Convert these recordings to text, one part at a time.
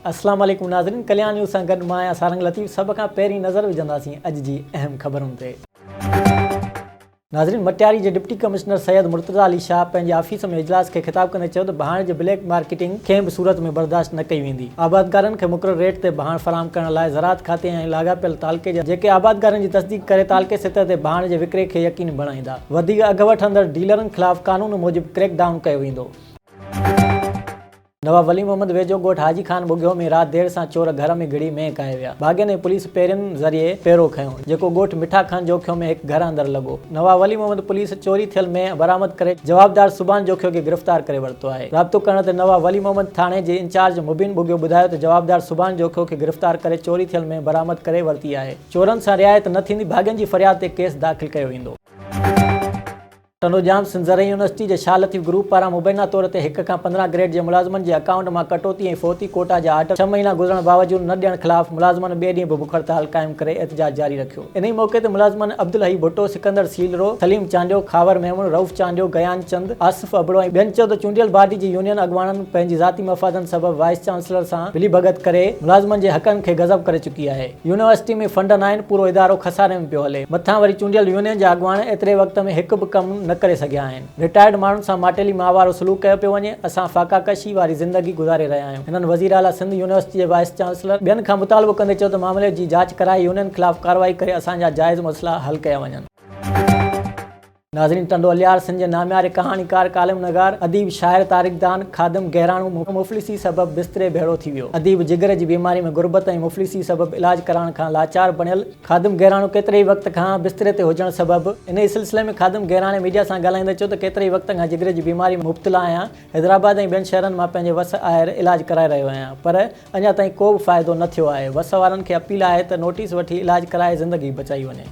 السلام عليڪم ناظرين ڪليان نيوز سان گڏ مان آهيان سارنگ لطيف سڀ کان پهرين نظر وجهنداسين اڄ جي اهم خبرن تي. ناظرين مٽياري جي ڊپٽي ڪمشنر سيد مرتضيٰ علي شاهه پنهنجي آفيس ۾ اجلاس کي خطاب ڪندي چيو ته ڀاڻ جي بليڪ مارڪيٽنگ ڪنهن به صورت ۾ برداشت نه ڪئي ويندي. آبادگارن کي مقرر ريٽ تي ڀاڻ فراهم ڪرڻ لاء زراعت کاتي ۽ لاڳاپيل تعلقي جا جيڪي آبادگارن جي تصديق ڪري تعلقي سطح تي ڀاڻ جي وڪري کي يقيني بڻائيندا. وڌيڪ اگهه وٺندڙ ڊيلرن خلاف قانون موجب ڪريڪ ڊائون ڪيو ويندو. نواب ولي محمد ويجهو ڳوٺ حاجي خان ٻگهيو ۾ رات دير سان چور گهر ۾ گهڙي مينهن ڪاهي ويا. ڀاڳين ۽ پوليس پهرين ذريعي پهرو کنيو، جيڪو ڳوٺ مٺا خان جوکيو ۾ هڪ گهر اندر لڳو. نواب ولي محمد پوليس چوري ٿيل مينهن برآمد ڪري جوابدار سبحان جوکيو کي گرفتار ڪري ورتو آهي. رابطو ڪرڻ تي نواب ولي محمد ٿاڻي جي انچارج مبين ٻگهيو ٻڌايو ته جوابدار سبحان جوکيو کي گرفتار ڪري چوري ٿيل مينهن برآمد ڪري ورتي آهي، چورن سان رعايت نه ٿيندي، ڀاڳين جي فرياد تي ڪيس داخل ڪيو ويندو. ٽنڊو ڄام سنڌ زرعي يونيورسٽي جي شاهه لطيف گروپ پاران مبينا طور تي هڪ کان پندرهن گريڊ جي ملازمن جي اڪائونٽ مان ڪٽوتي ۽ فوتي ڪوٽا جا آرڊر ڇهه مهينا گذرڻ باوجود نه ڏيڻ خلاف ملازمن ٻئي ڏينهن به بک هڙتال قائم ڪري احتجاج جاري رکيو. انهي موقعي تي ملازمن عبدالحئي ڀٽو، سڪندر سيلرو، سليم چانڊيو، خاور ميمڻ، رئوف چانڊيو، گيان چند، آصف ابڙو ۽ ٻين چيو ته چونڊيل باڊي جي يونين اڳواڻن پنهنجي ذاتي مفادن سبب وائيس چانسلر سان ملي ڀڳت ڪري ملازمن جي حقن کي غضب ڪري چڪي آهي، يونيورسٽي ۾ فنڊ ناهن، پورو ادارو خساري ۾ پيو هلي، مٿان وري چونڊيل يونين جا اڳواڻ ايتري وقت ۾ هڪ به ڪم نه ڪري سگهيا آهن. رٽائرڊ ماڻهن سان ماٽيلي ماء وارو سلوڪ ڪيو پيو وڃي، اسان فاقا ڪشي واري زندگي گذاري رهيا آهيون. هنن وزير اعليٰ سنڌ يونيورسٽي جي وائيس چانسلر ٻين کان مطالبو ڪندي چيو ته معاملي جي جاچ ڪرائي يونين خلاف ڪارروائي ڪري اسان جا جائز مسئلا حل ڪيا وڃن. ناظرين ٽنڊو الهيار سنڌ جي نامياري ڪهاڻيڪار، ڪالم نگار، اديب، شاعر، تاريخدان خادم گهراڻو مفلسي سبب بستري ڀيڙو ٿي ويو. اديب جگر جي بيماري ۾ غربت ۽ مفلسي سبب علاج ڪرائڻ کان لاچار بڻيل، خادم گهراڻو ڪيتري ئي وقت کان بستري تي هجڻ سبب انهي سلسلي ۾ خادم گهراڻي ميڊيا سان ڳالهائيندي چيو ته ڪيتري ئي وقت کان جگري جي بيماري ۾ مبتلا آهيان حيدرآباد ۽ ٻين شهرن مان پنهنجي وس آهر علاج ڪرائي رهيو آهيان پر اڃا تائين ڪو به فائدو نه ٿيو آهي وس وارن کي اپيل آهي ته نوٽيس وٺي علاج ڪرائي زندگي بچائي وڃي.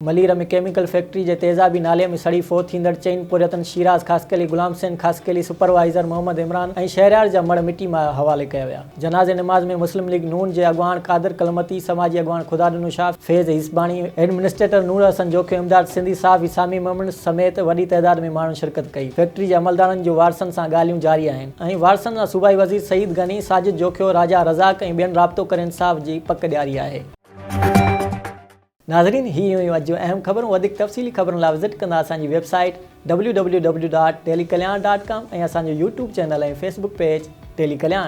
ملير ۾ ڪيميڪل فيڪٽري جي تيزابي نالي ۾ سڙي فوت ٿيندڙ چئن پورهيتن شيراز خاصخيلي، غلام حسين خاصخيلي، سپروائيزر محمد عمران ۽ شهريار جا مڙهه مٽي ماء حوالي ڪيا ويا. جنازي نماز ۾ مسلم ليگ نون جي اڳواڻ قادر ڪلمتي، سماجي اڳواڻ خدا ڏنو شاهه، فيض هيسباڻي، ايڊمنسٽريٽر نور حسن جوکي، امداد سنڌي، صحافي سامي ميمڻ سميت وڏي تعداد ۾ ماڻهن شرڪت ڪئي. فيڪٽري جي عملدارن جون وارثن سان ڳالهيون جاري آهن ۽ وارثن سان صوبائي وزير سعيد غني، ساجد جوکيو، راجا رزاق ۽ ٻين رابطو ڪري انصاف جي پڪ ڏياري آهي. ناظرين هي هيون اڄ جون اهم خبرون وڌيڪ تفصيلي خبرن لاء وزٽ ڪندا اسان جي website W W W dot daily Kalyan dot com ۽ اسان جو YouTube channel ۽ Facebook page daily Kalyan.